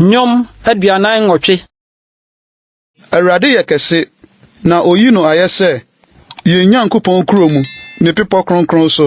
Nnwom aduanan nwɔtwe. Awurade yɛ kɛse, na oyi no ayɛ sɛ yɛn Nyankopɔn kuro mu, ne bepɔ kronkron so.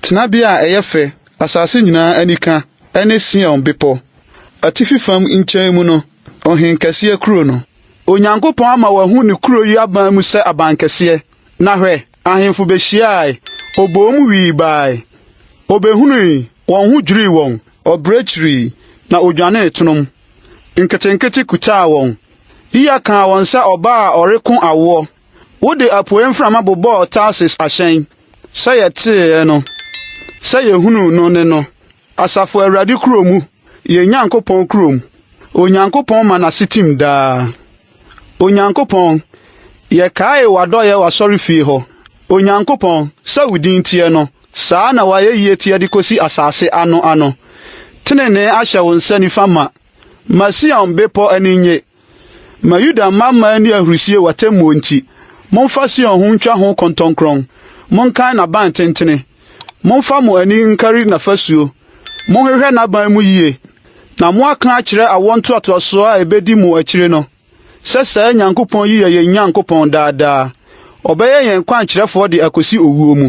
Tenabea a ɛyɛ fɛ, asase nyinaa anika, ne Sion bepɔ. Atifi fam nkyɛn mu no, ɔhenkɛseɛ kuro no. Onyankopɔn ama wɔahu ne kuro yi aban mu sɛ abankɛseɛ. Na hwɛ, ahemfo behyiae, oboom wii bae, obehui, wɔn ho dwirii wɔn. Ɔbrɛ kyirii, na odwanee tonom, nketenkete kutaa wɔn. Yiya kaa wɔn sɛ ɔbaa a ɔreko awoɔ. Wode apueɛ mframa bobɔɔ Tarsis ahyɛn, sɛ yɛteeɛ no, sɛ yɛhunuu no ne no. Asafo Awurade kuro mu, yɛn Nyankopɔn kuro mu, Onyankopɔn ma n'ase tim daa. Onyankopɔn, yɛkae w'adɔeɛ w'asɔrefie hɔ, Onyankopɔn, sɛ wo din teɛ no, saa na w'ayɛyie teɛ de kɔsi asase ano ano. Tenenee ahyɛ wo nsa nifa ma, ma Sion bepɔ ani nnye, Ma Yuda mma mma nni ahurisie w'atemmuo nti, momfa Sion ho ntwa ho kɔntɔnkrɔn, monkan n'aban tentene, momfa mo ani nkari n'afasuo, monhwehwɛ n'aban mu yie, na moaka akyerɛ awoɔ ntoatoasoɔ a ɛbɛdi mo akyire no sɛ saa Nyankopɔn yi yɛ yɛn Nyankopɔn daa daa, ɔbɛyɛ yɛn kwankyerɛfoɔ de akɔsi owuo mu.